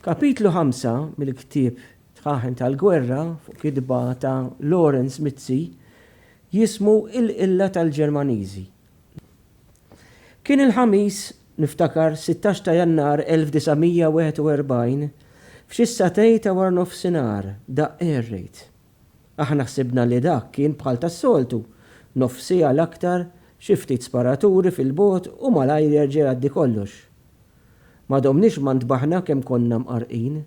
Kapitlu ħamsa mill-ktieb Tħaħen tal-Gwerra fuq kitba ta' Lawrence Mizzi jismu Il-Qilla tal-Ġermaniżi. Kien il-Ħamis, niftakar, 16 ta' Jannar 1941, f'xi satej ta' waranofsinhar, daqq air raid. Aħna ħsibna li dak kien bħal tas-soltu, nofs siegħa l-aktar, xi ftit sparaturi fil-bogħod u malajr jerġa' jgħaddi kollox. Ma domniex ma ntbaħna kemm konna mqarrqin.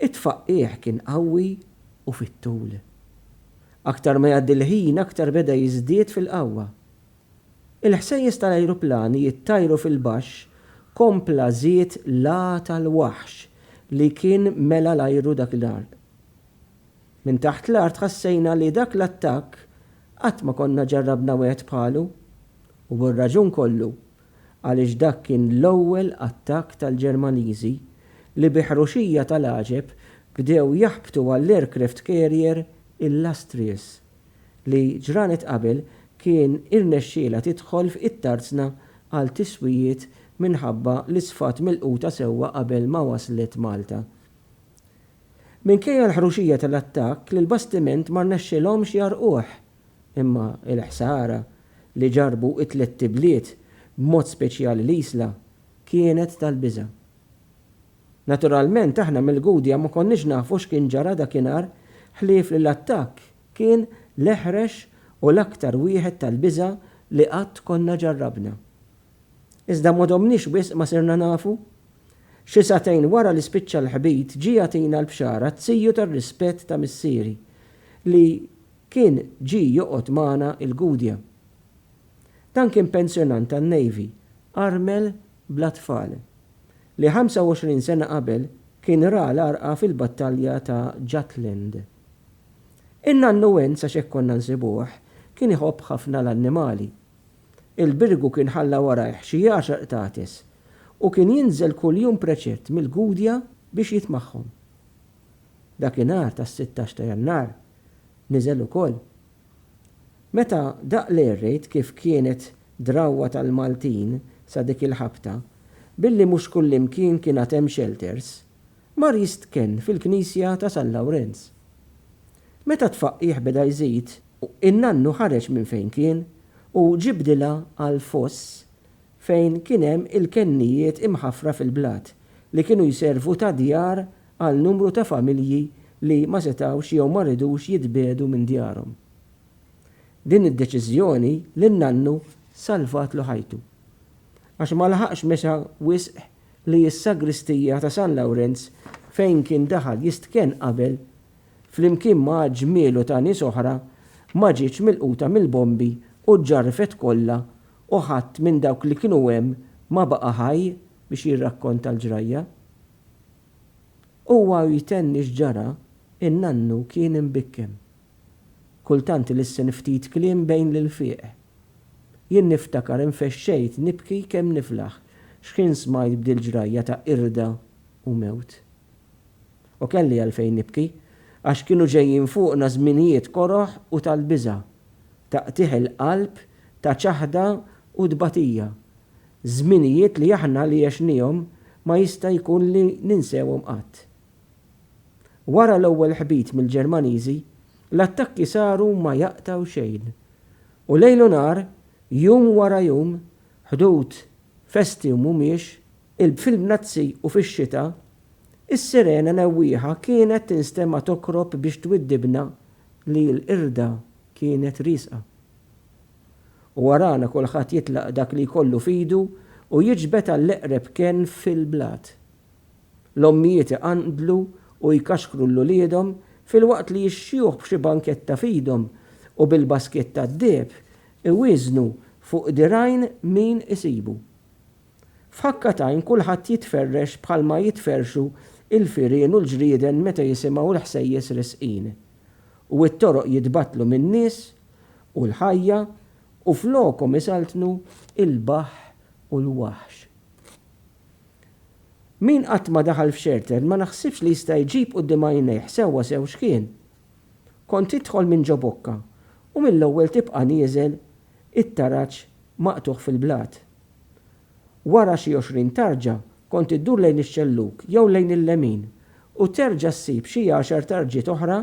It-tfaqqigħ kien qawwi u fit-tul. Aktar ma jgħaddi l-ħin aktar beda jiżdied fil-qawwa. Il-ħsejjes tal-ajruplani jittajru fil-baxx kompla żied l-għata l-waħx li kien mela l-ajru dak il-għarq. Minn taħt l-art ħassejna li dak l-attakk qatt ma konna ġarrabna wieħed bħalu, u bir-raġun kollu, għaliex dak kien l-ewwel attakk tal-Ġermaniżi li bi ħruxija tal-għaġeb bdew jaħbtu għall-aircraft carrier Illustrious, li ġranet qabel kien irnexxielha tidħol f'Ittarzna għal tiswijiet minħabba li sfat milquta sewwa qabel ma waslet Malta. Minkejja l-ħruxija tal-attakk l-bastiment ma rnexxielhomx jgħarrquh, imma l-ħsara li ġarrbu t-tlett ibliet, b'mod speċjali l-Isla, kienet tal-biża'. Naturalment aħna mill-Gudja ma konniex nafu x'kien ġara dakinhar ħlief li l-attakk kien l-eħrex u l-aktar wieħed tal-biża' li qatt konna ġarrabna. Iżda ma domniex wisq ma sirna nafu. Xi sagħtejn wara li spiċċa l-ħbit ġie jagħtina l-bxara t-tiju tar-rispett ta' missieri li kien ġie joqgħod magħna il-Gudja. Dan kien pensjonant tan-Navy, armel bla tfal, li 25 sena qabel kien ra l-għarqa fil-battalja ta' Jutland. In-nannu Wens għax hekk konna nsibuh, kien iħobb ħafna l-annimali. Il-birgu kien ħalla warajh xi għaxar qtates u kien jinżel kuljum preċett mill-Gudja biex jitmagħhom. Dakinhar tas-sittax ta' Jannar niżel ukoll. Meta daqq lejl rejt kif kienet drawwa tal-Maltin sa dik il-ħabta, billi mhux kullimkien kien għad hemm xelters, mar jistkenn fil-knisja ta' San Lawrenz. Meta t-tfaqqigħ beda jżid, in-nannu ħareġ minn fejn kien u ġie bdilha għal foss fejn kien hemm il-kennijiet imħaffra fil-blat li kienu jservu ta' djar għal numru ta' familji li ma setgħux jew ma ridux jitbiegħdu minn djarhom. Din id-deċiżjoni lin-nannu salvatlu ħajtu. Għax ma laħaqx mexa wisq li s-sagristija ta' San Lawrenz fejn kien daħal jistkenn qabel flimkien ma' ġmielu ta' nies oħra, ma ġietx milquta mill-bombi u ġġarrfet kollha u ħadd minn dawk li kienu hemm ma baqa' ħaj biex jirrakkonta l-ġrajja. Huwa u jtenni x'ġara, in-nannu kien imbikkem. Kultant ilissen ftit kliem bejn l-ilfieq. Jien niftakar infexxejt nibki kemm niflaħ x'ħin smajt b'dil-ġrajja ta' qirda u mewt. u kelli għalfejn nibki, għax kienu ġejjin fuqna żminijiet koroh u tal-biża', ta' qtigħ il-qalb, ta' ċaħda u tbatija. Żminijiet li aħna li għexniehom ma jista' jkun li ninsewhom qatt. Wara l-ewwel ħbit mill-Ġermaniżi, l-attakki saru ma jaqtgħu xejn. U lejl u nhar, jum wara jum, ħdud, festi u mhumiex, il-bfil mnazzi u fix-xita Is-sirena newwieħa kienet tinstema' tokrob biex twiddibna li l-qirda kienet riesqa. U warana kulħadd jitlaq dak li jkollu f'idu u jiġbed għall-eqreb kenn fil-blat. L-ommijiet iqanqdlu u jkaxkru 'l uliedhom filwaqt li x-xjuħ b'xi banketta f'idhom u bil-baskiet tad-deheb iwieżnu fuq dirgħajn min isibu. F'ħakka t'għajn kulħadd jitferrex bħalma jitferrxu l-firien u l-ġrieden meta jisimgħu l-ħsejjes risqin. U t-toroq jitbattlu min-nies u l-ħajja u flokhom isaltnu l-baħħ u l-waħx. Min qatt ma daħal f'Xertern ma naħsibx li jista' jġib quddiem għajnejh sewwa sew x'kien. Kont tidħol minn ġo bokka u mill-ewwel tibqa' nieżel it-taraġ maqtugħ fil-blat. Wara xi għoxrin tarġa kont iddur lejn ix-xellug jew lejn il-lemin u terġa' ssib xi għaxar tarġiet oħra,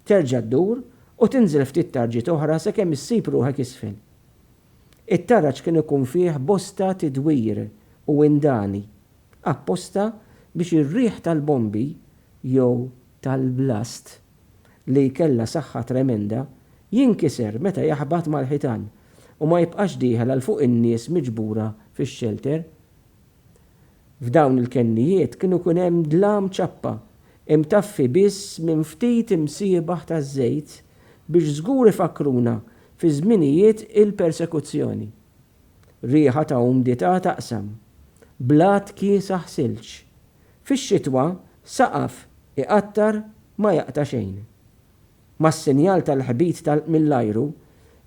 terġa' ddur u tinżel ftit tarġiet oħra sakemm issib ruħek isfel. It-taraġ kien ikun fih bosta tidwir u indani, apposta biex ir-riħ tal-bombi jew tal-blast li jkellha saħħa tremenda, jinkiser meta jaħbat mal-ħitan u ma jibqax dieħel għal fuq in-nies miġbura fix-xelter. F'dawn il-kennijiet kien ikun hemm dlam ċappa, imtaffi biss minn ftit imsiebaħ taż-żejt biex żgur ifakkruna fi żminijiet il-persekuzzjoni. Riħa ta' umdità taqsam. Blat kiesaħ silġ. Fix-xitwa, saqaf iqattar ma jaqta' xejn. Mas-sinjal tal-ħbit tal-, mill-ajru,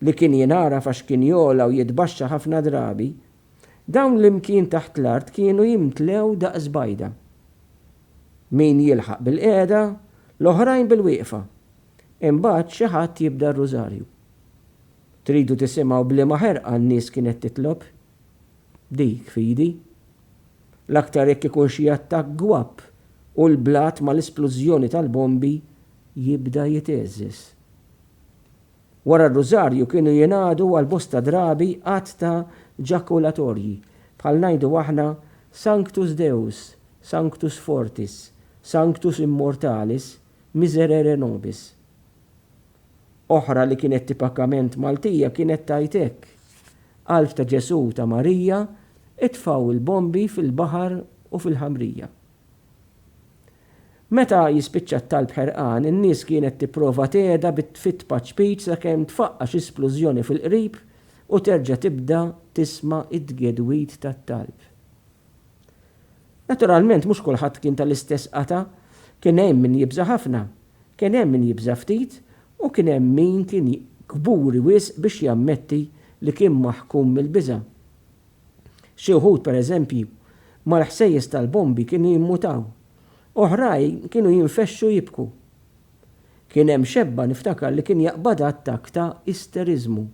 li kien jingħaraf għax kien jogħla u jitbaxxa ħafna drabi, dawn l-imkien taħt l-art kienu jimtlew daqs bajda. Min jilħaq bilqiegħda, l-oħrajn bilwieqfa. Imbagħad xi ħadd jibda r-rużarju. Tridu tisimgħu b'liema ħerqa n-nies kienet titlob? Dik fidi. L-aktar jekk ikun xi attakk gwapp u l-blat mal-isplużjoni tal-bombi jibda jitgħeżżeż. Wara r-Rużarju kienu jingħadu għal bosta drabi għadd ta' ġakulatorji, bħal ngħidu aħna Sanctus Deus, Sanctus Fortis, Sanctus Immortalis, Miserere Nobis. oħra li kienet tipakament Maltija kienet tgħid hekk, Qalb ta' Ġesù u ta' Marija, itfgħu il-bombi fil-baħar u fil-ħamrija. Meta jispiċċa t-talb ħerqan, in-nies kienet tipprova tgħedha bit-tfitt paċ-ċpiċ sakemm tfaqqa' xi splużjoni fil-qrib u terġa' tibda tisma' t-tgedwid tat-talb. Naturalment mhux kulħadd kien tal-istess qatgħa, kien hemm min jibża' ħafna Kien hemm min jibża' ftit u kien hemm min kien kburi wisq biex jammetti li kien maħkum mill-biża'. Xi wħud, pereżempju, mal-ħsejjes tal-bombi kienu jimmutaw. Oħrajn kienu jinfexxu jibku. Kien hemm xebba niftakar li kien jaqbadha attakk ta' isteriżmu.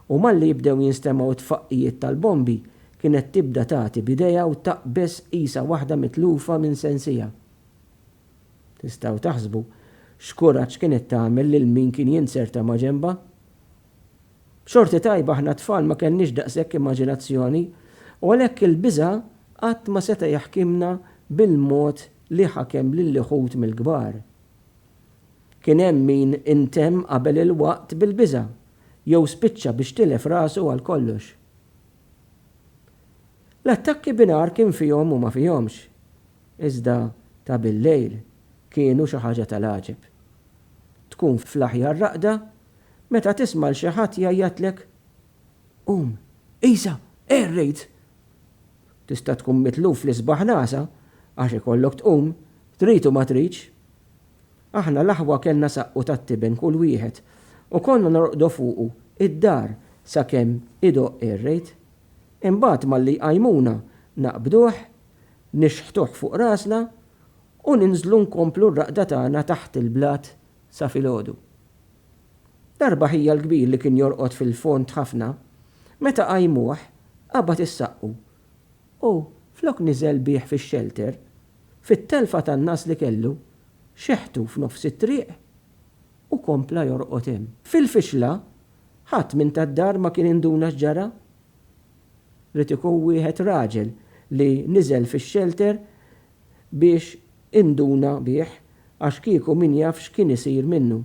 U malli jibdew jinstemgħu t-tfaqqijiet tal-bombi kienet tibda tagħti b'idejha u taqbeż qisha waħda mitlufa minn sensiha. Tistgħu taħsbu x'kuraġġ kienet tagħmel lil min kien jinzerta maġenbha? B'xorti tajba aħna t-tfal ma kellniex daqshekk immaġinazzjoni u għalhekk il-biża' qatt ma seta' jaħkimna bil-mod li ħakem lil ħut mill-kbar. Kien hemm min intemm qabel il-waqt bil-biża' jew spiċċa biex tilef rasu għal kollox. L-attakki binhar kien fihom u ma fihomx. Iżda ta' billejl kienu xi ħaġa tal-għaġeb. Tkun fl-aħjar raqda meta tisma' 'l xi ħadd jgħajjatlek, Qum, qisha, qerrid! Tista' tkun mitluf fl-isbaħ l-għasa għax ikollok tqum, trid u ma tridx. Aħna l-aħwa kellna saqqu tat-tiben kull wieħed u konna norqdu fuqu id-dar sakemm idoqq ir-rejt. Imbagħad malli jqajmuna naqbduh nixħtuh fuq rasna u ninżlu nkomplu r-raqda tagħna taħt il-blat sa filgħodu. Darba ħija l-kbir li kien jorqod fil-fond ħafna, meta qajmuh qabad is-saqqu u flok niżel bih fix-xelter, fit-telfa tan-nagħas li kellu, xeħtu f'nofs it-triq u kompla jorqod hemm. Fil-fixla, Ħadd minn tad-dar ma kien induna x'ġara. Ried ikun wieħed raġel li niżel fix-xelter biex induna bih għax kieku min jaf x'kien isir minnu.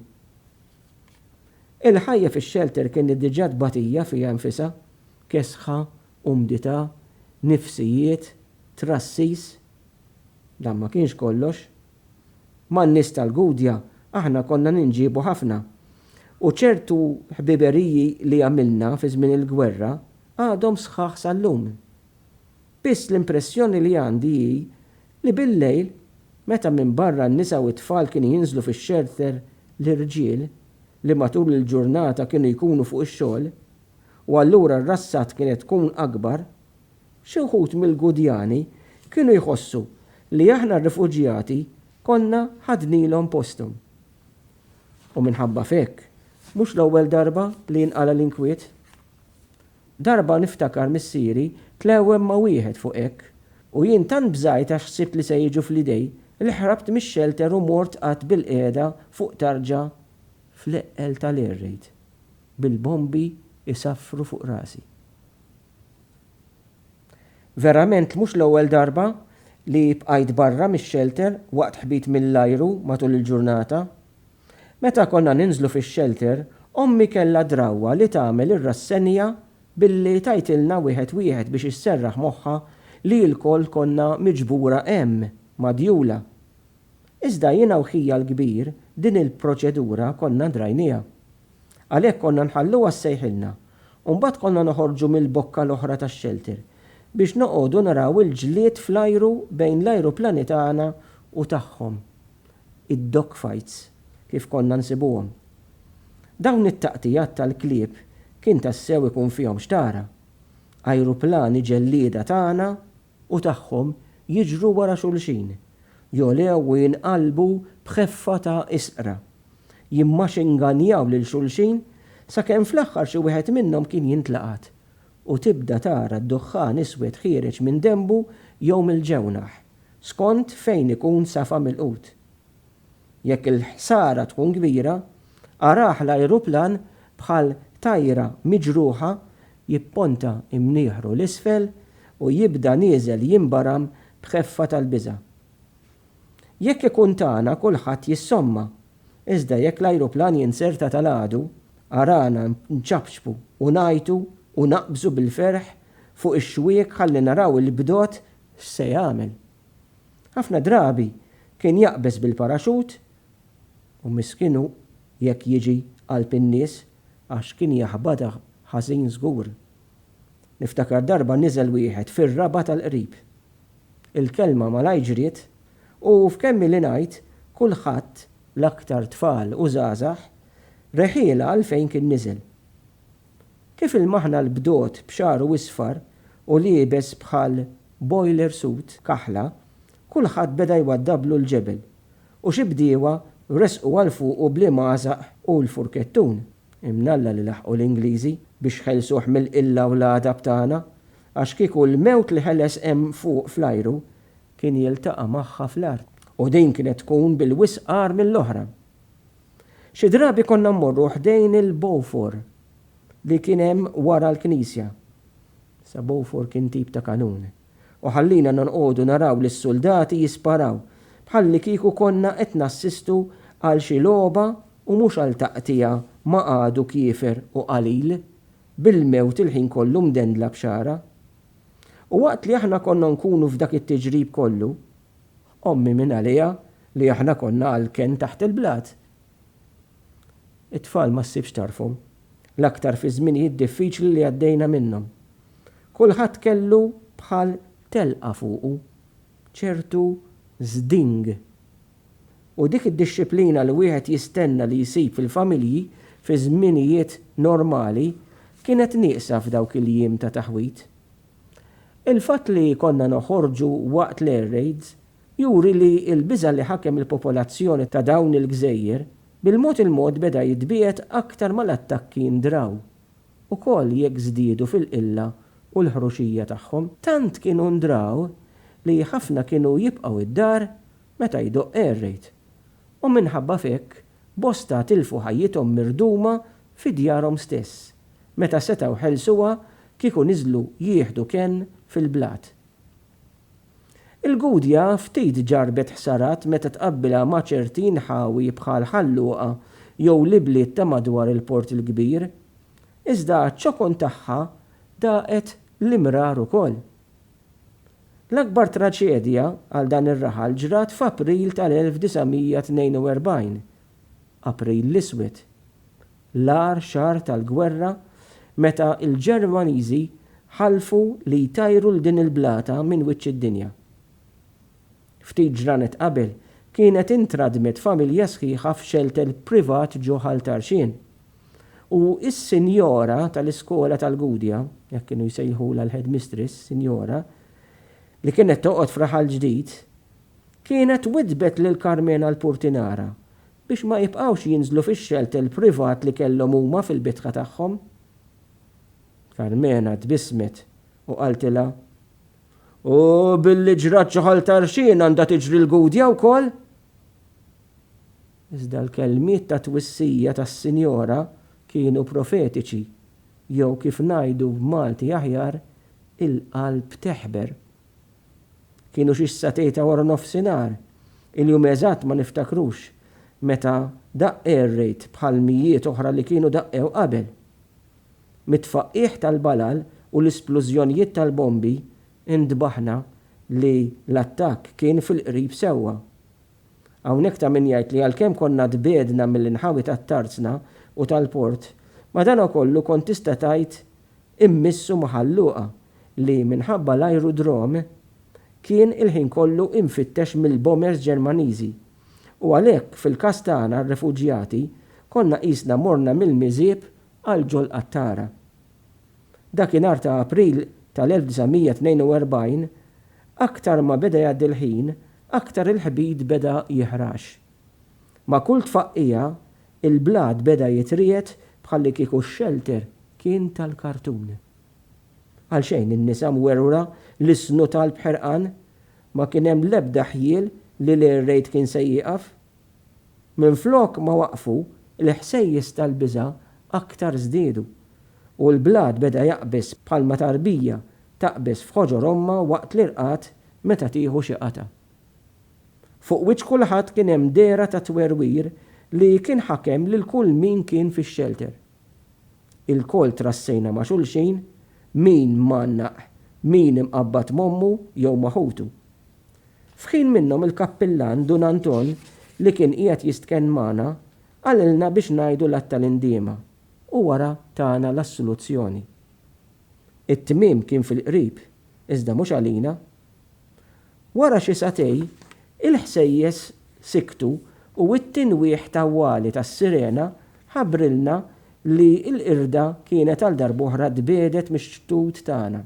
Il-ħajja fix-xelter kienet diġà tbatija fiha nfisha, kesħa, umdità, nifsijiet, trassis. Dan ma kienx kollox. Man-nies tal-Gudja aħna konna ninġiebu ħafna, u ċertu ħbiberiji li għamilna fi żmien il-gwerra għadhom sħaħ sal-lum. Biss l-impressjoni li għandi hi li bil-lejl, meta minbarra n-nisa u t-tfal kienu jinżlu fix-xelter l-irġiel, li matul il-ġurnata kienu jkunu fuq ix-xogħol, u allura r-rassat kienet tkun akbar, Xi wħud mill-Gudjani kienu jħossu li aħna r-rifuġjati konna ħadnilhom posthom. U minħabba f'hekk, mhux l-ewwel darba li jinqala' l-inkwiet. Darba niftakar missieri tlewwem ma' wieħed fuq hekk u jien tant bżajt għax ħsibt li se jiġu fl-idej li ħrabt mix-xelter u mort qgħadt bilqiegħda fuq tarġa fl-eqqel tal-air raid bil-bombi jsaffru fuq rasi. Verament mhux l-ewwel darba li bqajt barra mix-xelter waqt ħbit mill-ajru matul il-ġurnata. Meta konna ninżlu fix-xelter, ommi kellha d-drawwa li tagħmel ir-rassenja billi tgħidtilna wieħed wieħed biex isserraħ moħħha li lkoll konna miġbura hemm, madjula. Iżda jiena u ħija l-kbir din il-proċedura konna drajnieha. Għalhekk konna nħalluha ssejħilna u mbagħad konna noħorġu mill-bokka l-oħra tax-xelter biex noqogħdu naraw il-ġlied fl-ajru bejn l-ajruplani tagħna u tagħhom, id-dog fights kif konna nsibuhom. Dawn it-taqtigħat tal-klieb kien tassew ikun fihom x'tara. Ajruplani ġellieda tagħna u tagħhom jiġru wara xulxin, jogħlew u jinqalbu b'ħeffa ta' isqra, jimmaxinganjaw lil xulxin sakemm fl-aħħar xi wieħed minnhom kien jintlaqat u tibda tara d-duħħan iswed ħiereġ minn denbu jew mill-ġewnaħ, skont fejn ikun safa milqut. Jekk il-ħsara tkun kbira, araħ l-ajruplan bħal tajra miġruħa jipponta imnieħru 'l isfel u jibda nieżel jinbaram b'ħeffa tal-biża'. Jekk ikun tagħna kulħadd jissomma, iżda jekk l-ajruplan jinzerta tal-għadu, arana nċapċpu u ngħajtu u naqbżu bil-ferħ fuq ix-xwiek ħalli naraw il-bdot x'se jagħmel. Ħafna drabi kien jaqbeż bil-paraxut u miskin hu jekk jiġi qalb in-nies għax kien jaħbadha ħażin żgur. Niftakar darba niżel wieħed fir-raba' tal-qrib. Il-kelma malajr ġriet u f'kemm ili ngħid kulħadd, l-aktar tfal u żgħażagħ, reħielha għalfejn kien niżel. Kif ilmaħna l-bdot b'xagħru isfar u liebes bħal boiler suit kaħla, kulħadd beda jwaddablu l-ġebel, u xi bdiewa resqu għal fuqu bl-imgħasaq u l-furkettun. Imnalla li laħqu l-Ingliżi biex ħelsuh mill-qilla u l-għadab tagħna, għax kieku l-mewt li ħeles hemm fuq fl-ajru kien jiltaqa' magħha fl-art, u din kienet tkun bil-wisq agħar mill-oħra. Xi drabi konna mmorru ħdejn il-bowfor li kien hemm wara l-knisja. Sa bowfor kien tip ta' kanun. U ħallina nonqogħdu naraw lis-suldati jisparaw, bħallikieku konna qed nassistu għal xi logħba u mhux għal taqtigħa ma' għadu kiefer u qalil, bil-mewt il-ħin kollu mdendla b'xagħra. U waqt li aħna konna nkunu f'dak it-tiġrib kollu, Ommi mingħaliha li aħna konna għalken taħt il-blat. It-tfal ma ssibx tarfhom, l-aktar fiż-żminijiet diffiċli li għaddejna minnhom. Kulħadd kellu bħal telqa fuqu, ċertu zding. U dik id-dixxiplina li wieħed jistenna li jsib fil-familji fi żminijiet normali kienet nieqsa f'dawk il-jiem ta' taħwid. Il-fatt li konna noħorġu waqt l-air raids juri li l-biża' li ħakem il-popolazzjoni ta' dawn il-gżejjer bil-mod il-mod beda jitbiegħed aktar ma l-attakki ndraw ukoll jekk żdiedu fil-qilla u l-ħruxija tagħhom. Tant kienu ndraw li ħafna kienu jibqgħu d-dar meta jdoqq air raid u minħabba f'hekk Bosta tilfu ħajjithom mirduma fi djarhom stess meta setgħu ħelsuha kieku niżlu jieħdu kenn fil-blat. Il-Gudja ftit ġarrbet ħsarat meta tqabbilha ma' ċerti inħawi bħal Ħal Luqa jew l-ibliet ta' madwar il-Port il-Kbir. Iżda għaċ-ċokon tagħha daqet l-imrar ukoll. L-akbar traġedja għal dan ir-raħal ġrat f'April tal-1942, April l-Iswed, l-agħar xahar tal-gwerra meta l-Ġermaniżi ħalfu li jtajru 'l din il-blata minn wiċċ id-dinja. Ftit ġranet qabel kienet intradmet familja sħiħa f'xelter privat ġo Ħal Tarxien. U s-sinjora tal-iskola tal-Gudja, hekk kienu jsejħulha l-headmistress, sinjora, li kienet toqgħod f'Raħal Ġdid, kienet widdbet lil Carmena l-Purtinara biex ma jibqgħux jinżlu fix-xelter privat li kellhom huma fil-bitħa tagħhom. Carmena tbissmet u qaltilha, U billi ġrat xi ħolta rxien għandha tiġri l-Gudja wkoll? Iżda l-kelmiet ta' twissija tas-Sinjora kienu profetiċi, jew kif ngħidu b'Malti aħjar, il-qalb teħber. Kienu xi satej ta' waranofsinhar, il-jum eżatt ma niftakrux, meta daqq air raid bħal mijiet oħra li kienu daqqew qabel. Mit-tfaqqigħ tal-balal u l-isplużjonijiet tal-bombi, intbaħna li l-attakk kien fil-qrib sewwa. Hawnhekk ta' min jgħid li għalkemm konna tbiegħdna mill-inħawi tat-Tarzna u tal-port, madankollu kont tista' tgħid immiss u maħalluqa li, minħabba l-ajrudrom, kien il-ħin kollu imfittex mill-bombers Ġermaniżi. U għalhekk, fil-każ tagħna r-refuġjati, konna qisna morna mill-miżieb għal ġol-qattara. Dakinhar ta' April tal-1942, aktar ma beda jgħaddi l-ħin, aktar il-ħbid beda jiħrax. Ma' kull tfaqqigħa, il-blat beda jitriegħed bħallikieku x-xelter kien tal-kartun. Għalxejn in-nisa mwerwra lissnu talb b'ħerqan. Ma kien hemm l-ebda ħjiel li l-air raid kien se jieqaf. Minflok ma waqqfu, il-ħsejjes tal-biża' aktar żdiedu, u l-blat beda jaqbeż bħalma tarbija taqbeż f'ħoġor ommha waqt l-irqad meta tieħu xi qatgħa. Fuq wiċċ kulħadd kien hemm dehra ta' twerwir li kien ħakem lil kull min kien fix-xelter. Ilkoll trassejna ma' xulxin, min mgħannaq, min imqabbad m'ommu jew ma' ħutu. F'ħin minnhom il-kappillan Dun Anton li kien qiegħed jistkenn magħna qalilna biex ngħidu l-Għadd tal-Indiema u wara tana l-assoluzzjoni. It-tmiem kien fil-qrib, iżda mhux għalina. Wara xi sagħtej, il-ħsejjes siktu u t-tinwieħ tawwali tas-sirena ħabbrilna li l-qirda kienet għal darb'oħra tbiegħdet mix-xtut tagħna.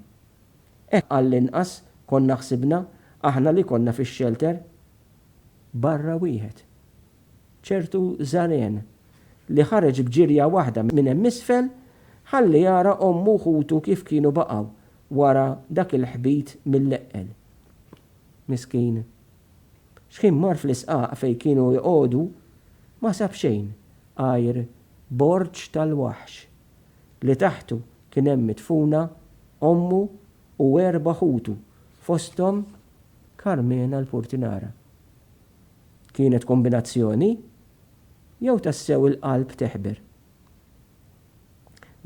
Hekk għallinqas konna ħsibna aħna li konna fix-xelter. Barra wieħed. Ċertu żaren, li ħareġ b'ġirja waħda minn hemm isfel, ħalli jara ommu u ħutu kif kienu baqgħu wara dak il-ħbit mil-leqqel. Miskin. Xħin mar fl-isqaq fejn kienu jqogħdu, ma sab xejn għajr borġ tal-waħx, li taħtu kien hemm midfuna ommu u erba' ħutu fosthom Karmena l-purtinara. Kienet kombinazzjoni? Jew tassew il-qalb teħber?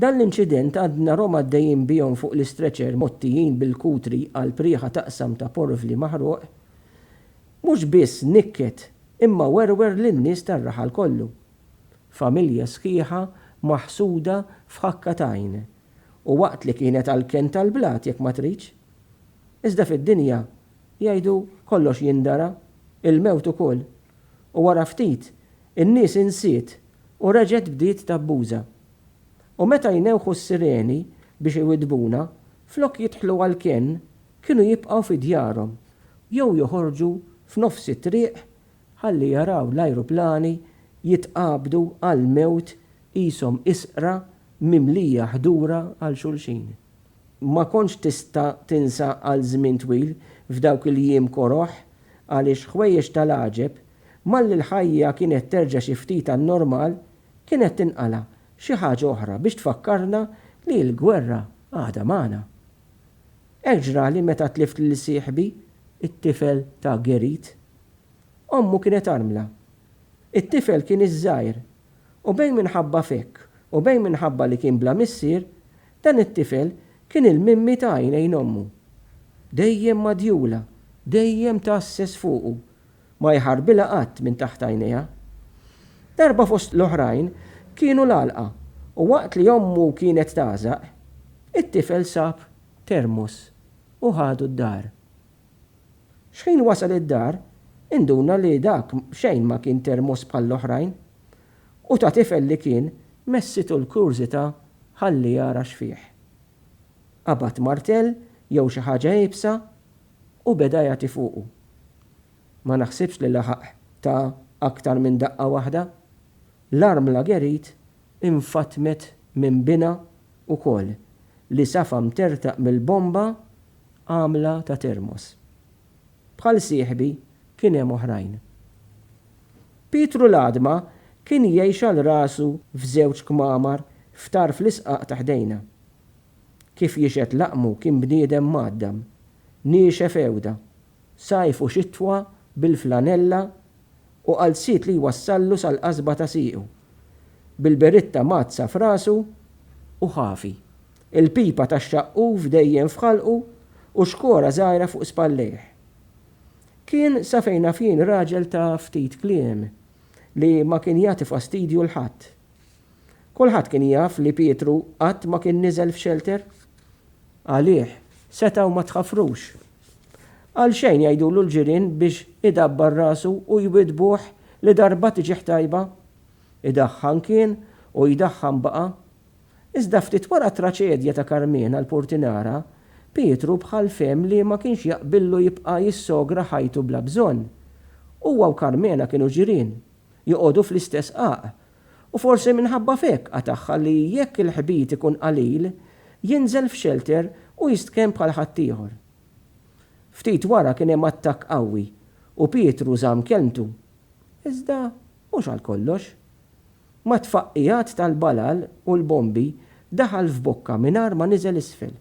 Dan l-inċident għad narhom għaddejjin bihom fuq l-istretcher mgħottijin bil-kutri għal prieħa t'aqsam ta' porvli maħruq, mhux biss nikket imma werwer lin-nies tar-raħal kollu. Familja sħiħa maħsuda f'ħakka t'għajn u waqt li kienet għall-kenn tal-blat jekk ma tridx. Iżda fid-dinja, jgħidu, kollox jindara, il-mewt ukoll, u wara ftit In-nies insiet u reġgħet bdiet tabbuża. U meta jnewħu s-sireni biex iwiddbuna, flok jidħlu għall-kenn kienu jibqgħu fi djarhom jew joħorġu f'nofs it-triq ħalli jaraw l-ajruplani jitqabdu għall-mewt qishom isqra mimlija ħdura għal xulxin. Ma kontx tista' tinsa għal żmien twil f'dawk il-jiem koroh għaliex ħwejjeġ tal-għaġeb Malli l-ħajja kienet terġa' xi ftit għan-normal, kienet tinqala' xi ħaġa oħra biex tfakkarna li l-gwerra għadha magħna. Hekk ġrali meta tlift lil sieħbi, it-tifel ta' Gerrit. Ommu kienet armla. It-tifel kien iż-żgħir. U bejn minħabba f'hekk u bejn minħabba li kien bla missier, dan it-tifel kien il-mimmi ta' għajnejn ommu. Dejjem madjula, dejjem tgħasses fuqu, Ma jħarbilha qatt minn taħt għajnejha. Darba fost l-oħrajn kienu l-għalqa u waqt li ommu kienet tagħżaq, it-tifel sab termos u ħadu d-dar. Xħin wasal id-dar, induna li dak b'xejn ma kien termos bħall-oħrajn u ta' tifel li kien messitu l-kurżità ħalli jara x'fih. Qabad martell jew xi ħaġa iebsa U beda jagħti fuqu. Ma naħsibx li laħaq ta aktar minn daqqa waħda. L-armla Gerit infatmet minn binha ukoll li safa mtertaq mill-bomba għamla ta termos. Bħal sieħbi kien hemm oħrajn. Pietru l-għadma kien jgħix għal rasu f'żewġ kmamar f'tarf l-isqaq ta ħdejna. Kif jixhed laqmu kien bniedem mgħaddam, niexef għewda, sajf u xitwa bil-flanella u qalziet li jwassallu sal-qasba ta' siequ, bil-beritta mgħaddsa f'rasu u ħafi, il-pipa tax-xaqquf dejjem f'ħalqu u xkora żgħira fuq spallejh. Kien sa fejn naf jien raġel ta' ftit kliem, li ma kien jagħti fastidju 'l ħadd. Kulħadd kien jaf li Pietru qatt ma kien niżel f'xelter. Għalih, setgħu ma tħaffrux. Għalxejn jgħidulu l-ġirien biex idabbar rasu u jwiddbuh li darba tiġih tajba. Idaħħan kien u jdaħħan baqa'. Iżda ftit wara t-traċedja ta' Karmena l-Purtinara, Pietru bħal fehem li ma kienx jaqbillu jibqa' jissogra ħajtu bla bżonn. Huwa u Karmena kienu ġirien, joqogħdu fl-istess qagħaq u forsi minħabba f'hekk qatagħha li jekk il-ħbit ikun qalil, jinżel f'xelter u jistkenn bħal ħaddieħor. Ftit wara kien hemm attakk qawwi u Pietru żamm kelmtu. Iżda mhux għal kollox. Mat-tfaqqigħat tal-balal u l-bombi daħal f'bokka mingħajr ma niżel isfel.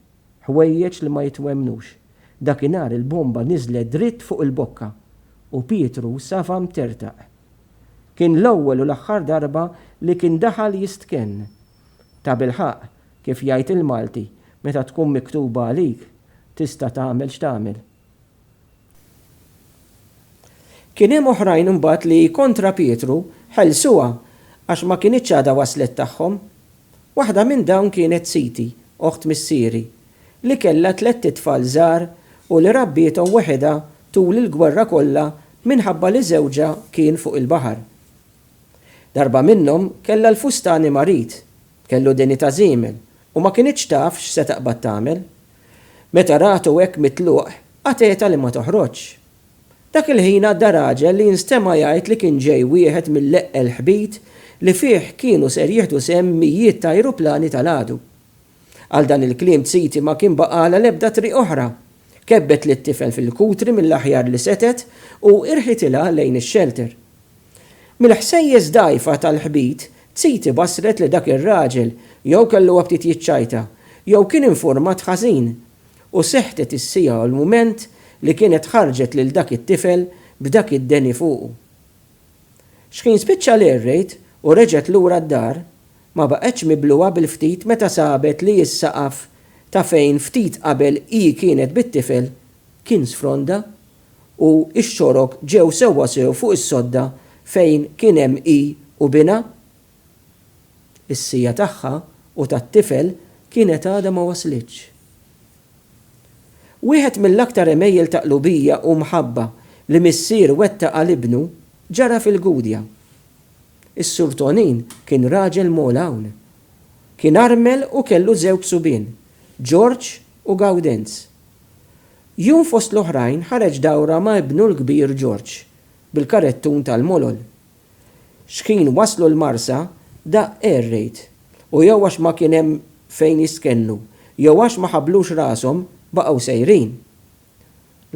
Ħwejjeġ li ma jitwemmnux. Dakinhar il-bomba niżlet dritt fuq il-bokka u Pietru safa mtertaq. Kien l-ewwel u l-aħħar darba li kien daħal jistkenn. Tabilħaqq, kif jgħid il-Malti, meta tkun miktuba għalik, tista' tagħmel x'tagħmel. Kien hemm oħrajn imbagħad li, kontra Pietru, ħelsuha għax ma kinitx għadha waslet tagħhom. Waħda minn dawn kienet siti, oħt missieri, li kellha tlett itfal żgħar u li rabbiethom weħidha tul il-gwerra kollha minħabba li żewġha kien fuq il-baħar. Darba minnhom kellha l-fustani marid, kellu dinjità żiemel u ma kinitx taf x'se taqbad tagħmel. Meta ratu hekk mitluq, għatetha li ma toħroġx. Dak il-ħin għadda raġel li nstema' jgħid li kien ġej wieħed mill-eqqel ħbit li fih kienu ser jieħdu sehem mijiet ta' ajruplani tal-għadu. Għal dan il-kliem t-siti ma kien baqagħla l-ebda triq oħra. Kebbet lit-tifel fil-kutri mill-aħjar li setgħet u irħitilha lejn ix-xelter. Mill-ħsejjes dgħajfa tal-ħbit, Tsiti bassret li dak ir-raġel jew kellu aptit jiċċajta, jew kien infurmat ħażin, u sehtet is-siegħa u l-mument li kienet ħarġet lil dak it-tifel b'dak id-deni fuqu. Xħin spiċċa l-air raid u reġgħet lura d-dar, ma baqgħetx mibluha bil-ftit meta sabet li s-saqaf ta' fejn ftit qabel hi kienet bit-tifel kien sfronda. u x-xorok ġew sewwa sew fuq is-sodda fejn kien hemm hi u binha? Is-siegħa tagħha u tat-tifel kienet għadha ma waslitx. Wieħed mill-aktar għemejjel ta' qlubija u mħabba li missier wettaq għal ibnu ġara fil-Gudja. Is-Sur Tonin kien raġel mogħol hawn. Kien armel u kellu żewg subien, Ġorġ u Gawdenz, Jum fost l-oħrajn ħareġ dawra ma' ibnu l-kbir George, bil-karettun tal-Molol. Xħin waslu l-Marsa, daqq air raid, u jew għax ma kien hemm fejn jistkennu jew għax ma ħabblux rashom baqgħu sejrin.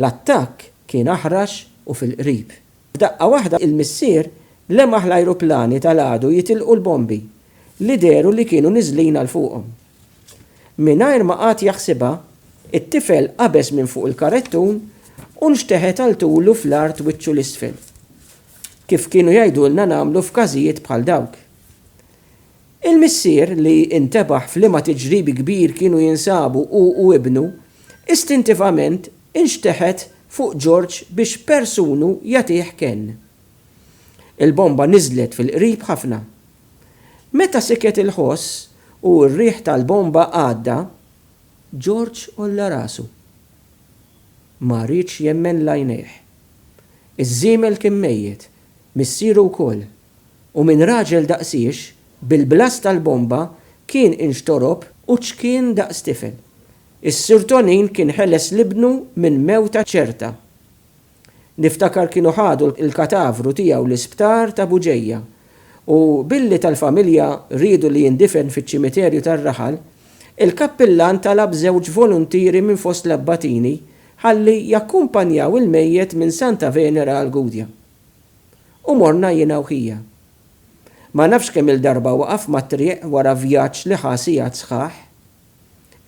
L-attakk kien aħrax u fil-qrib. F'daqqa waħda il-missier lemaħ l-ajruplani tal-għadu jitilqu l-bombi li dehru li kienu niżlin għal fuqhom. Mingħajr ma qagħad jaħsibha, it-tifel qabeż minn fuq il-karettun u nxteħet għal tulu fl-art wiċċu 'l isfel. Kif kienu jgħidulna nagħmlu f'każijiet bħal dawk. Il-missier, li intebaħ f'liema tiġrib kbir kienu jinsabu hu u ibnu, istintivament inxteħet fuq George biex persunu jagħtih kenn. Il-bomba niżlet fil-qrib ħafna. Meta siket il-ħoss u r-riħ tal-bomba għadda, George għolla rasu. Ma riedx jemmen l-għajnejh. Iż-żiemel kien mejjet, missieru wkoll, u minn raġel daqsiex, bil-blast tal-bomba kien inxtorob u ċkien daqs tifel. Is-sirtonin kien ħeles l-ibnu minn mewta ċerta. Niftakar kienu ħadu l-katavru tiegħu l-isptar ta' Buġeja u billi tal-familja riedu li jindifen fiċ-ċimiterju tar-raħal, il-kappillan talab żewġ voluntieri minn fost l-abbatini ħalli jakkumpanjaw il-mejjet minn Santa Venera għall-Gudja. u morna jiena u ħija. Ma nafx kemm-il darba waqaf mat-triq wara vjaġġ li ħa sigħat sħaħ.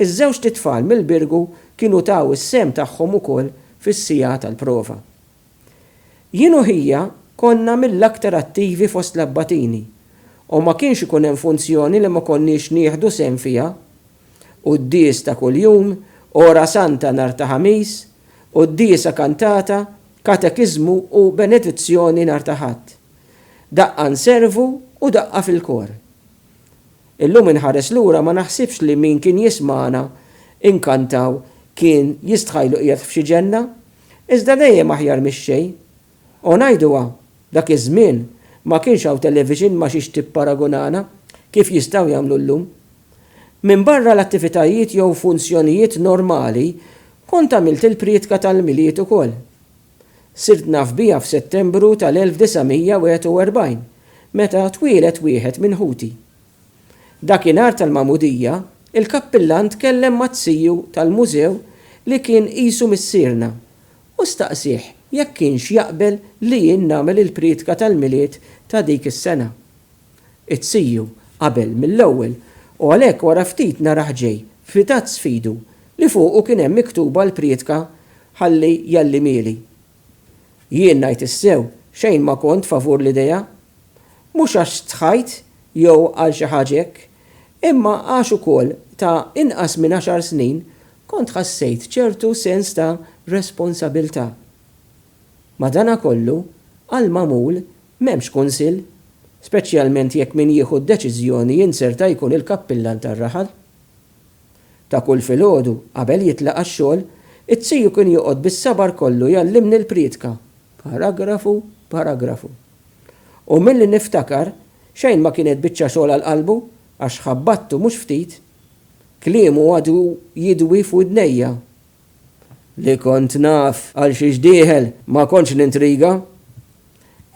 Iż-żewġt itfal mill-Birgu kienu taw is-sehem tagħhom ukoll fis-siegħa tal-prova. Jien u ħija konna mill-aktar attivi fost l-abbatini u ma kienx ikun hemm funzjoni li ma konniex nieħdu sehem fiha Quddies ta' kuljum, Ora Santa nhar ta' Ħamis, Quddiesa kantata, Katekiżmu u Benedizzjoni nhar ta' Ħadd. Daqqa nservu u daqqa fil-kor. Illum inħares lura ma naħsibx li min kien jismagħna inkantaw kien jistħajlu qiegħed f'xi ġenna, iżda dejjem aħjar mix-xejn. O ngħiduha, dak iż-żmien ma kienx hawn television ma' xiex tipparagunana kif jistgħu jagħmlu llum. Minbarra l-attivitajiet jew funzjonijiet normali kont għamilt il-prietka tal-Milied ukoll. Sirt naf biha f'Settembru tal-1941 meta twieled wieħed minn ħuti. Dakinhar tal-Magħmudija, il-Kappillan tkellem ma' Ziju tal-Mużew li kien qisu missierna u staqsieh jekk kienx jaqbel li jien nagħmel il-prietka tal-Milied ta' dik is-sena. It-CU qabel mill-ewwel u għalhekk wara ftit narah ġej f'ritazz f'idu li fuqu kien hemm miktuba l-prietka ħalli jgħallimieli. Jien ngħid is-sew xejn ma kont favur l-idea. Mhux għax stħajt jew għal xi ħaġa hekk, imma għax ukoll ta' inqas minn għaxar snin Kont ħassejt ċertu sens ta' responsabiltà. Madanakollu, għall-magħmul m'hemmx kunsill, speċjalment jekk min jieħu d-deċiżjoni jinzerta jkun il-kappillan tar-raħal. Ta' kull filgħodu, qabel jitlaq għax-xogħol, it-ziju kien joqgħod bis-sabar kollu jgħallimni l-priedka, paragrafu b'paragrafu. U milli niftakar, xejn ma kienet biċċa xogħol għal qalbu, Għax ħabbattu mhux ftit, kliemu għadu jidwi f'widnejja. Li kont naf għal xiex dieħel, ma kontx nintriga.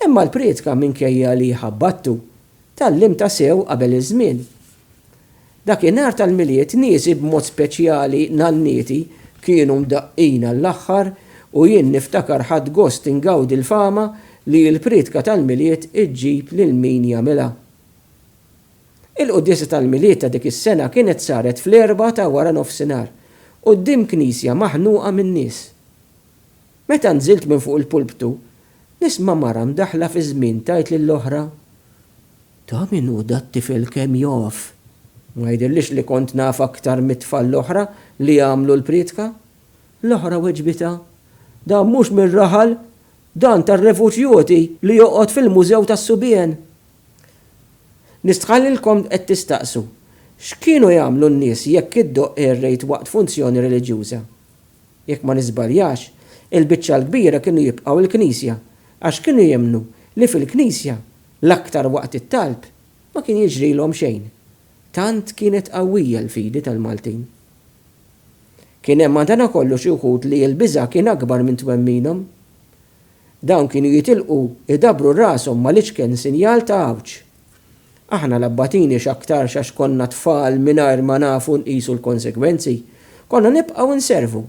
Imma l-prietka minkejja li ħabbattu, tgħallimtha sew qabel iż-żmien. Dakinhar tal-Milied niesi b'mod speċjali nannieti kienu mdaqqin għall-aħħar u jien niftakar ħadt gost ingawdi l-fama li l-prietka tal-Milied iġġib lil min jagħmilha. Il-quddiesa tal-Milied ta' dik is-sena kienet saret fl-Erbgħa ta' wara nofsinhar, quddiem knisja maħnuqa min-nies. Meta nżilt minn fuq il-pulptu, nisma' mara mdaħħla fiż-żmien tgħid lill-oħra, Ta' min hu dat-tifel kemm jaf! Ma jidhirlix li kont naf aktar mit-tfal l-oħra li għamlu l-prietka. L-oħra weġbitha, Dan mhux mir-raħal, dan tar-refuġjuti li joqgħod fil-mużew tas-subien! Nistħallilkom qed tistaqsu, X'kienu jagħmlu n-nies jekk iddoqq air rate waqt funzjoni reliġjuża? Jekk ma niżbaljax, il-biċċa l-kbira kienu jibqgħu l-knisja għax kienu jemmnu li fil-knisja, l-aktar waqt it-talb, ma kien jiġrilhom xejn. Tant kienet qawwija l-fidi tal-Maltin. Kien hemm madankollu xi wħud li l-biża' kien akbar minn twemminhom. Dawn kienu jitilqu jdabbru rashom mal-iċken sinjal ta' għawġ. Aħna l-abbatini x'aktarx għax konna tfal mingħajr ma nafu nqisu l-konsegwenzi, konna nibqgħu nservu.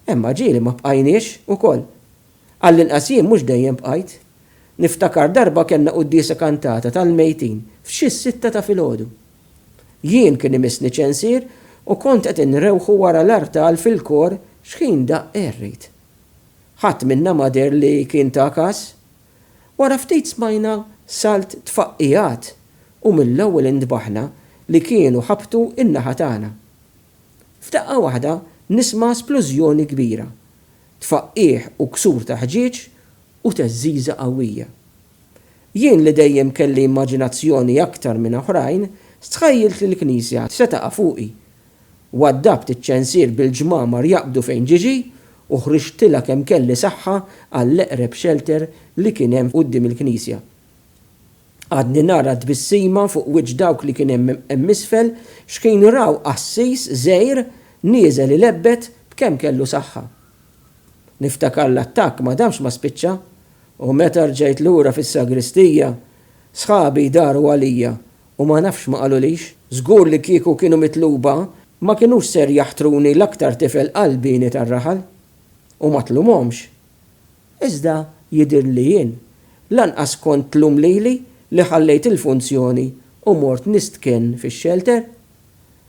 Imma ġie li ma bqajniex ukoll. Għall-inqas jien mhux dejjem bqajt. Niftakar darba kellna quddiesa kantata tal-mejtin f'xi s-sitta ta' filgħodu. Jien kien imissni ċensier u kont qed inrewħu wara l-artal fil-kor x'ħin daqq errid. Ħadd minna ma deher li kien ta' kas. Wara ftit smajna salt tfaqqigħat u mill-ewwel intbaħna li kienu ħabtu n-naħa tagħna. F'daqqa waħda nisma' splużjoni kbira, tfaqqigħ u ksur ta' ħġieġ u theżżiża qawwija. Jien li dejjem kelli immaġinazzjoni aktar minn oħrajn stħejjiltli l-knisja se taqa' fuqi Waddabt iċ-ċensier bil-ġmamar jaqbdu fejn Gigi u ħriġtilha kemm kelli saħħa għall-eqreb xelter li kien hemm quddiem il-knisja. Għadni nara t-tbissima fuq wiċċ dawk li kien hemm hemm isfel x'kienu raw qassis żgħir nieżel ilebbet b'kemm kellu saħħa. Niftakar l-attakk ma damx ma spiċċa u meta rġajt lura fis-sagristija, sħabi jdaru għalija U ma nafx ma qalulix. Żgur li kieku kienu mitluba. Ma kinux ser jaħtruni l-aktar tifel qalbieni tar-raħal. U ma tlumhomx. Iżda jidhirli li jien lanqas kont tlum lili li ħallejt il-funzjoni u mort nistken fix-xelter.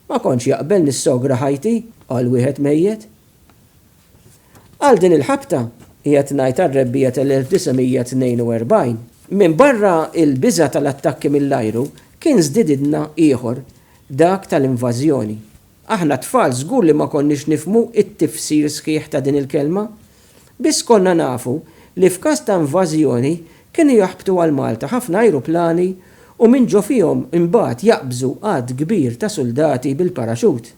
Ma kontx jaqbel nissogra ħajti għal wieħed mejjet. Għal din il-ħabta, qiegħed ngħid għar-rebbiegħa tal-1942. Minbarra l-biża' tal-attakki mill-ajru, kien żdididna ieħor, dak tal-invażjoni. Aħna t-tfal żgur li ma konniex nifhmu t-tifsir sħiħ ta' din il-kelma. Biss konna nafu li f'każ ta' invażjoni kienu jaħbtu għal Malta ħafna ajruplani u minn ġo fihom imbagħad jaqbżu għadd kbir ta' suldati bil-paraxut.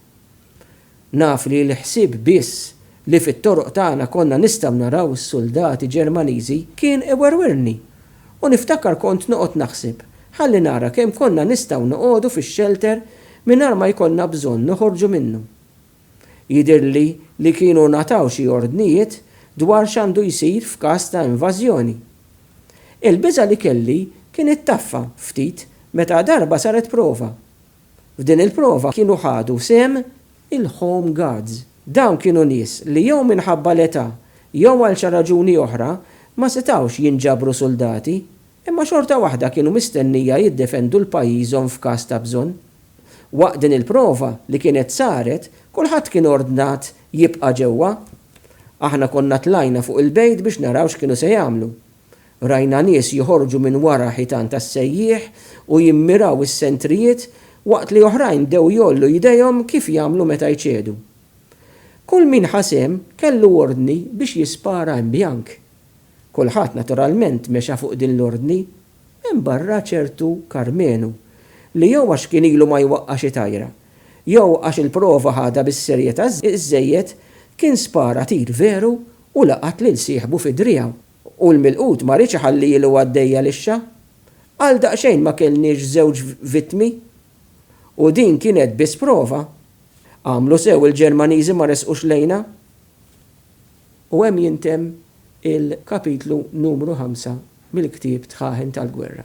Naf li l-ħsieb biss li fit-toroq tagħna konna nistgħu naraw is-suldati Ġermaniżi kien iwerwirni u niftakar kont noqgħod naħseb ħalli nara kemm konna nistgħu noqogħdu fix-xelter mingħajr ma jkollna bżonn noħorġu minnu. Jidhirli li kienu ngħataw xi ordnijiet dwar x'għandu jsir f'każ ta' invażjoni. Il-biża' li kelli kien ittaffa ftit meta darba saret prova. F'din il-prova kienu ħadu sehem il-Home Guards. Dawn kienu nies li jew minħabba l-età jew għal xa raġuni oħra ma setgħux jinġabru suldati, imma xorta waħda kienu mistennija jiddefendu 'l pajjiżhom f'każ ta' bżonn. Waqt din il-prova li kienet saret, kulħadd kien ordnat jibqa' ġewwa. Aħna konna tlajna fuq il-bejt biex naraw x'kienu se jagħmlu. Rajna nies joħorġu minn wara ħitan tas-sejjieħ u jimmiraw is-sentrijiet waqt li oħrajn bdew jgħollu jdejhom kif jagħmlu meta jċedu. Kull min ħa sehem kellu ordni biex jispara imbjank. Kulħadd naturalment mexa fuq din l-ordni, minbarra ċertu Karmenu li jew għax kien ilu ma jwaqqa' xi tajra, jew għax il-prova ħadha bis-serjetà żżejjed kien spara tir veru u laqat lil sieħbu fi driegħu. U l-milqut ma riedx iħalli ilu għaddejja lixxa. Għal daqsxejn ma kellniex żewġ vittmi. U din kienet biss prova. Għamlu sew il-Ġermaniżi ma resqux lejna. U hemm jintemm il-kapitlu numru ħamsa mill-ktieb Tħaħen tal-Gwerra.